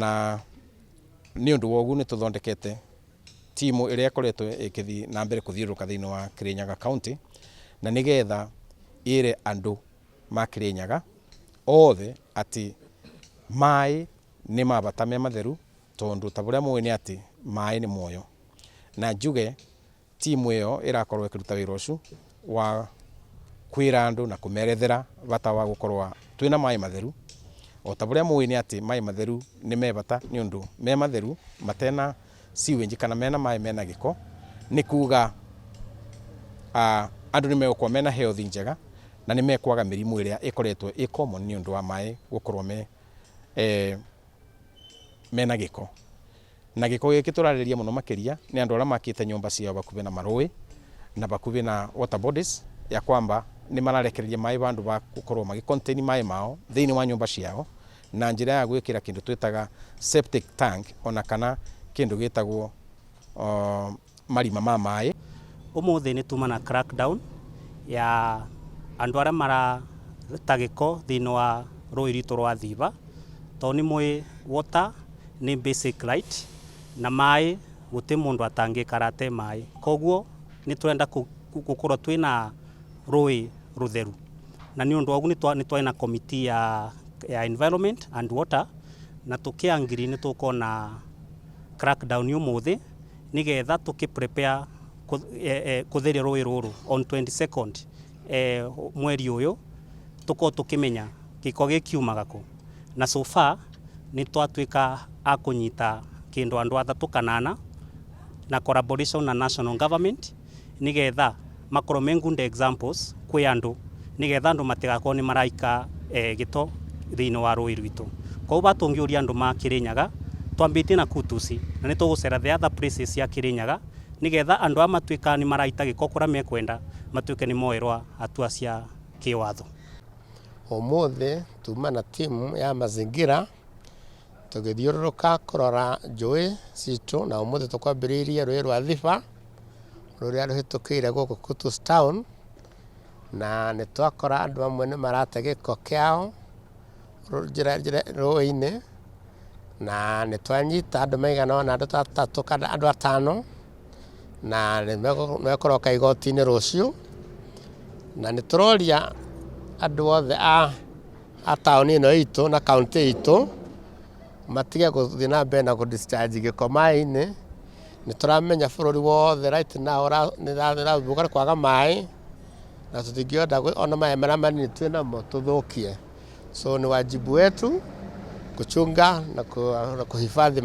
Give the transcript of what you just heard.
na nĩ ũndũ wa ũguo nĩ tũthondekete timu ĩrĩa ĩkoretwo ĩkĩthiĩ na mbere kũthiũrũrũka thĩinĩ wa Kĩrĩnyaga kaũntĩ, na nĩgetha ĩre andũ ma Kĩrĩnyaga othe atĩ maĩ nĩ ma bata me matheru tondũ ta ũrĩa mũĩ nĩ atĩ maĩ nĩ muoyo. Na njuge... Timu ĩyo ĩrakorwo ĩkĩruta wĩra ũcu wa kwĩra andũ na kũmerethera bata wa gũkorwa twĩna maĩ matheru. O ta bũrĩa mũĩ nĩ atĩ maĩ matheru nĩ me bata nĩ ũndũ me matheru matena sewage kana mena maĩ mena gĩko nĩ kuga andũ nĩ megũkorwo mena health njega na nĩ mekwaga mĩrimũ ĩrĩa ĩkoretwo ĩ common nĩ ũndũ wa maĩ gũkorwo mena gĩko. Na gĩko gĩkĩ tũrarĩrĩria mũno makĩria nĩ andũ arĩa makĩte nyũmba ciao bakuhĩ na marũĩ na bakuhĩ na water bodies ya kwamba nĩ mararekereria maĩ bandũ ba gũkorwo magĩ contain maĩ mao thĩinĩ wa nyũmba ciao na njĩra ya gwĩkĩra kĩndũ twĩtaga septic tank ona kana kĩndũ gĩtagwo marima ma maĩ. Ũmũthĩ nĩ tuma na crack down ya andũ arĩa marata gĩko thĩinĩ wa rũĩ rwitũ rwa Thiba, tondũ nĩ mũĩ water nĩ basic right na maĩ gũtirĩ mũndũ atangĩikara atarĩ maĩ. Koguo nĩ tũrenda gũkorwo twĩna rũĩ rũtheru na nĩ ũndũ wa ũguo nĩ twarĩ na committee ya environment and water na tũkĩ agree nĩ tũgũkorwo na crack down ũmũthĩ. nĩ getha tũkĩ prepare kũtheria rũĩ rũrũ on 22nd mweri ũyũ tũkorwo tũkĩmenya gĩko gĩkiumaga kũ na so far nĩ twatuĩka a kũnyita kĩndũ andũ atatũ kana ana na collaboration na national government. nĩ getha makorwo me good examples kwĩ andũ, nĩ getha andũ matigakorwo nĩ maraika gĩto thĩinĩ wa rũĩ rwitũ. Koguo haha tũngĩũria andũ ma Kĩrĩnyaga, twambĩtie na Kutusi, na nĩ tũgũcera the other places cia Kĩrĩnyaga, nĩ getha andũ aya matuĩkaga nĩ maraita gĩko kũrĩa mekwenda, matuĩke nĩ moerwo hatua cia kĩwatho. Ũmũthĩ tuma na timu ya Mazingira Tũgĩthiũrũrũka kũrora njũĩ citũ na ũmũthĩ tũkwambĩrĩirie rũĩ rwa Thiba rũrĩa rũhĩtũkĩire gũkũ Kutus Town na nĩ twakora andũ amwe nĩ marate gĩko kĩao rũĩ-inĩ na nĩ twanyita andũ maigana ũna andũ ta atatũ kana andũ atano na nĩ mekũroka igoti-inĩ rũciũ na nĩ tũroria andũ othe a a taũni ĩno itũ na kaũntĩ itũ matige gũthiĩ na mbere na gũ discharge gĩko maĩ-inĩ. Nĩ tũramenya bũrũri wothe right now nĩ ũrathumbũrwo nĩ kwaga maĩ, na tũtingĩhota ona maĩ marĩa manini twĩ namo tũthũkie. So nĩ wajibu wetu kuchunga na kuhifadhi.